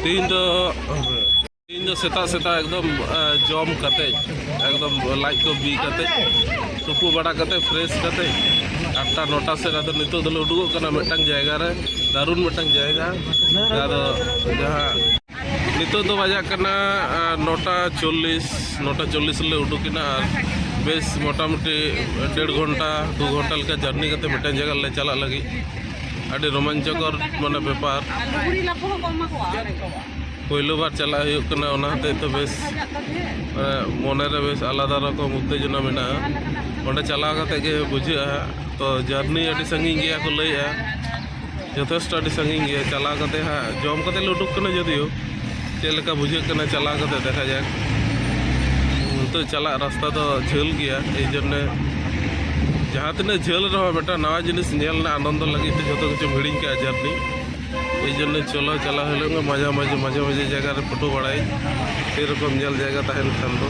ᱛᱮᱦᱮᱧ ᱫᱚ ᱛᱮᱦᱮᱧ ᱫᱚ ᱥᱮᱛᱟᱜ ᱥᱮᱛᱟᱜ ᱮᱠᱫᱚᱢ ᱡᱚᱢ ᱠᱟᱛᱮ ᱮᱠᱫᱚᱢ ᱞᱟᱡ ᱠᱚ ᱵᱤ ᱠᱟᱛᱮ ᱛᱩᱯᱩ ᱵᱟᱲᱟ ᱠᱟᱛᱮ ᱯᱷᱨᱮᱥ ᱠᱟᱛᱮ ᱟᱴᱴᱟ ᱱᱚᱴᱟ ᱥᱮᱫ ᱟᱫᱚ ᱱᱤᱛᱚᱜ ᱫᱚᱞᱮ ᱩᱰᱩᱠᱚᱜ ᱠᱟᱱᱟ ᱢᱤᱫᱴᱟᱝ ᱡᱟᱭᱜᱟ ᱨᱮ ᱫᱟᱨᱩᱱ ᱢᱤᱫᱴᱟᱝ ᱡᱟᱭᱜᱟ ᱟᱫᱚ ᱡᱟᱦᱟᱸ ᱱᱤᱛᱚᱜ ᱫᱚ ᱵᱟᱡᱟᱜ ᱠᱟᱱᱟ ᱱᱚᱴᱟ ᱪᱚᱞᱞᱤᱥ ᱱᱚᱴᱟ ᱪᱚᱞᱞᱤᱥ ᱞᱮ ᱩᱰᱩᱠᱮᱱᱟ ᱟᱨ ᱵᱮᱥ ᱢᱚᱴᱟᱢᱩᱴᱤ ᱰᱮᱲ ᱜᱷᱚᱱᱴᱟ ᱫᱩ ᱜᱷᱚᱱᱴᱟ ᱞᱮᱠᱟ ᱡᱟᱨᱱᱤ ᱠᱟᱛᱮ ᱢᱤᱫᱴᱟᱝ ᱡᱟᱭᱜᱟ ᱞᱮ ᱪᱟᱞᱟᱜ ᱞᱟᱹᱜᱤᱫ ᱟᱹᱰᱤ ᱨᱳᱢᱟᱧᱪᱚᱠᱚᱨ ᱢᱟᱱᱮ ᱵᱮᱯᱟᱨ ᱯᱳᱭᱞᱳ ᱵᱟᱨ ᱪᱟᱞᱟᱜ ᱦᱩᱭᱩᱜ ᱠᱟᱱᱟ ᱚᱱᱟ ᱦᱚᱛᱮᱡ ᱛᱮ ᱵᱮᱥ ᱢᱚᱱᱮᱨᱮ ᱵᱮᱥ ᱟᱞᱟᱫᱟ ᱨᱚᱠᱚᱢ ᱩᱛᱛᱮᱡᱚᱱᱟ ᱢᱮᱱᱟᱜᱼᱟ ᱚᱸᱰᱮ ᱪᱟᱞᱟᱣ ᱠᱟᱛᱮ ᱜᱮ ᱵᱩᱡᱷᱟᱹᱜᱼᱟ ᱛᱚ ᱡᱟᱨᱱᱤ ᱟᱹᱰᱤ ᱥᱟᱺᱜᱤᱧ ᱜᱮᱭᱟ ᱠᱚ ᱞᱟᱹᱭᱮᱜᱼᱟ ᱡᱚᱛᱷᱮᱥᱴᱚ ᱟᱹᱰᱤ ᱥᱟᱺᱜᱤᱧ ᱜᱮᱭᱟ ᱪᱟᱞᱟᱣ ᱠᱟᱛᱮ ᱦᱟᱸᱜ ᱡᱚᱢ ᱠᱟᱛᱮ ᱞᱮ ᱩᱰᱩᱠ ᱠᱟᱱᱟ ᱡᱚᱫᱤᱭᱳ ᱪᱮᱫ ᱞᱮᱠᱟ ᱵᱩᱡᱷᱟᱹᱜ ᱠᱟᱱᱟ ᱪᱟᱞᱟᱣ ᱠᱟᱛᱮ ᱫᱮᱠᱷᱟ ᱡᱟᱠ ᱱᱤᱛᱚᱜ ᱪᱟᱞᱟᱜ ᱨᱟᱥᱛᱟ ᱫᱚ ᱡᱷᱟᱹᱞ ᱜᱮᱭᱟ ᱮᱭ ᱡᱚᱱᱱᱮ ᱡᱟᱦᱟᱸ ᱛᱤᱱᱟᱹᱜ ᱡᱷᱟᱹᱞ ᱨᱮᱦᱚᱸ ᱢᱤᱫᱴᱟᱝ ᱱᱟᱣᱟ ᱡᱤᱱᱤᱥ ᱧᱮᱞ ᱨᱮᱱᱟᱜ ᱟᱱᱚᱱᱫᱚ ᱞᱟᱹᱜᱤᱫ ᱛᱮ ᱡᱚᱛᱚ ᱠᱤᱪᱷᱩᱢ ᱦᱤᱲᱤᱧ ᱠᱟᱜᱼᱟ ᱡᱟᱨᱱᱤ ᱮᱭ ᱡᱚᱱᱱᱮ ᱪᱚᱞᱚ ᱪᱟᱞᱟᱣ ᱦᱩᱭᱩᱜ ᱜᱮ ᱢᱟᱡᱷᱟ ᱢᱟᱡᱷᱮ ᱢᱟᱡᱷᱮ ᱢᱟᱡᱷᱮ ᱡᱟᱭᱜᱟ ᱨᱮ ᱯᱷᱳᱴᱳ ᱵᱟᱲᱟᱭ ᱥᱮᱨᱚᱠᱚᱢ ᱧᱮᱞ ᱡᱟᱭᱜᱟ ᱛᱟᱦᱮᱱ ᱠᱷᱟᱱ ᱫᱚ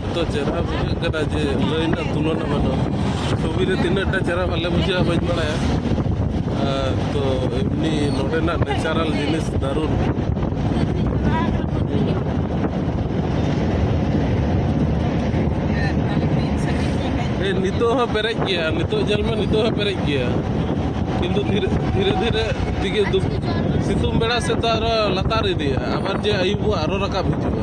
ᱱᱤᱛᱚᱜ ᱪᱮᱦᱨᱟ ᱵᱩᱡᱷᱟᱹᱜ ᱠᱟᱱᱟ ᱡᱮ ᱞᱟᱹᱭ ᱨᱮᱱᱟᱜ ᱛᱩᱞᱚᱱᱟ ᱵᱟᱹᱱᱩᱜᱼᱟ ᱪᱷᱚᱵᱤ ᱨᱮ ᱛᱤᱱᱟᱹᱜ ᱴᱟ ᱪᱮᱦᱨᱟ ᱵᱟᱞᱮ ᱵᱩᱡᱷᱟᱹᱜᱼᱟ ᱵᱟᱹᱧ ᱵᱟᱲᱟᱭᱟ ᱛᱚ ᱮᱢᱱᱤ ᱱᱚᱰᱮᱱᱟᱜ ᱱᱮᱪᱟᱨᱟᱞ ᱡᱤᱱᱤᱥ ᱫᱟᱨᱩᱱ ᱱᱤᱛᱚᱜ ᱦᱚᱸ ᱯᱮᱨᱮᱡ ᱜᱮᱭᱟ ᱱᱤᱛᱚᱜ ᱧᱮᱞ ᱢᱮ ᱱᱤᱛᱚᱜ ᱦᱚᱸ ᱯᱮᱨᱮᱡ ᱜᱮᱭᱟ ᱠᱤᱱᱛᱩ ᱫᱷᱤᱨᱮ ᱫᱷᱤᱨᱮ ᱫᱷᱤᱨᱮ ᱛᱮᱜᱮ ᱥᱤᱛᱩᱝ ᱵᱮᱲᱟ ᱥᱮᱫ ᱫᱚ ᱟᱨᱚ ᱞᱟᱛᱟᱨ ᱤᱫᱤᱜᱼᱟ ᱟᱵᱟᱨ ᱡᱮ ᱟᱹᱭᱩᱵᱚᱜᱼᱟ ᱟᱨᱚ ᱨᱟᱠᱟᱵ ᱦᱤᱡᱩᱜᱼᱟ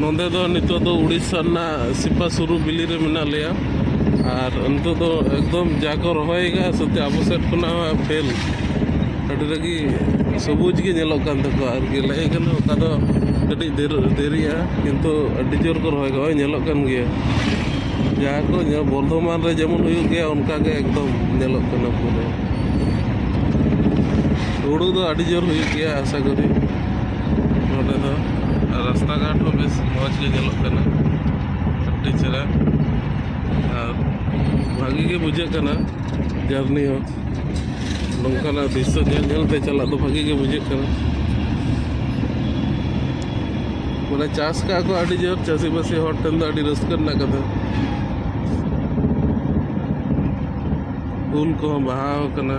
ᱱᱚᱸᱰᱮ ᱫᱚ ᱱᱤᱛᱚᱜ ᱫᱚ ᱩᱲᱤᱥᱥᱟ ᱨᱮᱱᱟᱜ ᱥᱤᱯᱟ ᱥᱩᱨᱩ ᱵᱤᱞᱤ ᱨᱮ ᱢᱮᱱᱟᱜ ᱞᱮᱭᱟ ᱟᱨ ᱱᱤᱛᱚᱜ ᱫᱚ ᱮᱠᱫᱚᱢ ᱡᱟ ᱠᱚ ᱨᱚᱦᱚᱭ ᱠᱟᱜᱼᱟ ᱥᱚᱛᱮ ᱟᱵᱚ ᱥᱮᱫ ᱠᱷᱚᱱᱟᱜ ᱦᱚᱸ ᱯᱷᱮᱞ ᱟᱹᱰᱤ ᱨᱟᱹᱜᱤ ᱥᱚᱵᱩᱡᱽ ᱜᱮ ᱧᱮᱞᱚᱜ ᱠᱟᱱ ᱛᱟᱠᱚᱣᱟ ᱟᱨ ᱜᱮᱞᱮ ᱠᱟᱱᱟ ᱚᱠᱟ ᱫᱚ ᱠᱟᱹᱴᱤᱡ ᱫᱮᱨᱤᱜᱼᱟ ᱠᱤᱱᱛᱩ ᱟᱹᱰᱤ ᱡᱳᱨ ᱠᱚ ᱨᱚᱦᱚᱭ ᱠᱟᱜᱼᱟ ᱧᱮᱞᱚᱜ ᱠᱟᱱ ᱜᱮᱭᱟ ᱡᱟᱦᱟᱸ ᱠᱚ ᱧᱮᱞ ᱵᱚᱨᱫᱷᱚᱢᱟᱱ ᱨᱮ ᱡᱮᱢᱚᱱ ᱦᱩᱭᱩᱜ ᱜᱮᱭᱟ ᱚᱱᱠᱟ ᱜᱮ ᱮᱠᱫᱚᱢ ᱧᱮᱞᱚᱜ ᱠᱟᱱᱟ ᱯᱩᱨᱟᱹ ᱦᱩᱲᱩ ᱫᱚ ᱟᱹᱰᱤ ᱡᱳᱨ ᱦᱩᱭᱩᱜ ᱜᱮᱭᱟ ᱟᱥᱟ ᱠᱚᱨᱤ ᱱᱚᱰᱮ ᱫᱚ ᱨᱟᱥᱛᱟ ᱜᱷᱟᱴ ᱦᱚᱸ ᱵᱮᱥ ᱢᱚᱡᱽ ᱜᱮ ᱧᱮᱞᱚᱜ ᱠᱟᱱᱟ ᱟᱹᱰᱤ ᱪᱮᱦᱨᱟ ᱟᱨ ᱵᱷᱟᱹᱜᱤ ᱜᱮ ᱵᱩᱡᱷᱟᱹᱜ ᱠᱟᱱᱟ ᱡᱟᱨᱱᱤ ᱦᱚᱸ ᱱᱚᱝᱠᱟᱱᱟᱜ ᱫᱨᱤᱥᱥᱚ ᱧᱮᱞ ᱧᱮᱞ ᱛᱮ ᱪᱟᱞᱟᱜ ᱫᱚ ᱵᱷᱟᱹᱜᱤ ᱜᱮ ᱵᱩᱡᱷᱟᱹᱜ ᱠᱟᱱᱟ ᱢᱟᱱᱮ ᱪᱟᱥ ᱠᱟᱜ ᱠᱚ ᱟᱹᱰᱤ ᱡᱳᱨ ᱪᱟᱹᱥᱤᱵᱟᱹᱥᱤ ᱦᱚᱲ ᱴᱷᱮᱱ ᱫᱚ ᱟᱹᱰᱤ ᱨᱟᱹᱥᱠᱟᱹ ᱨᱮᱱᱟᱜ ᱠᱟᱛᱷᱟ ᱩᱞ ᱠᱚᱦᱚᱸ ᱵᱟᱦᱟᱣ ᱠᱟᱱᱟ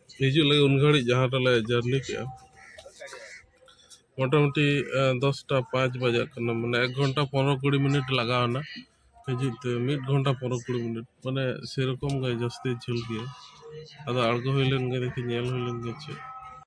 ᱦᱤᱡᱩᱜ ᱞᱟᱹᱜᱤᱫ ᱩᱱ ᱜᱷᱟᱹᱲᱤᱡ ᱡᱟᱦᱟᱸ ᱨᱮᱞᱮ ᱡᱟᱹᱨᱱᱤ ᱠᱮᱜᱼᱟ ᱢᱚᱴᱟᱢᱩᱴᱤ ᱫᱚᱥᱴᱟ ᱯᱟᱸᱪ ᱵᱟᱡᱟᱜ ᱠᱟᱱᱟ ᱢᱟᱱᱮ ᱮᱠ ᱜᱷᱚᱱᱴᱟ ᱯᱚᱱᱨᱚ ᱠᱩᱲᱤ ᱢᱤᱱᱤᱴ ᱞᱟᱜᱟᱣ ᱮᱱᱟ ᱦᱤᱡᱩᱜ ᱛᱮ ᱢᱤᱫ ᱜᱷᱚᱱᱴᱟ ᱯᱚᱱᱨᱚ ᱠᱩᱲᱤ ᱢᱤᱱᱤᱴ ᱢᱟᱱᱮ ᱥᱮᱨᱚᱠᱚᱢ ᱜᱮ ᱡᱟᱹᱥᱛᱤ ᱡᱷᱟᱹᱞ ᱜᱮᱭᱟ ᱟᱫᱚ ᱟᱬᱜᱚ ᱦᱩᱭ ᱞᱮᱱ ᱜᱮ ᱫᱮᱠᱷᱤ ᱧᱮᱞ ᱦᱩᱭ ᱞᱮᱱ ᱜᱮ ᱪᱮᱫ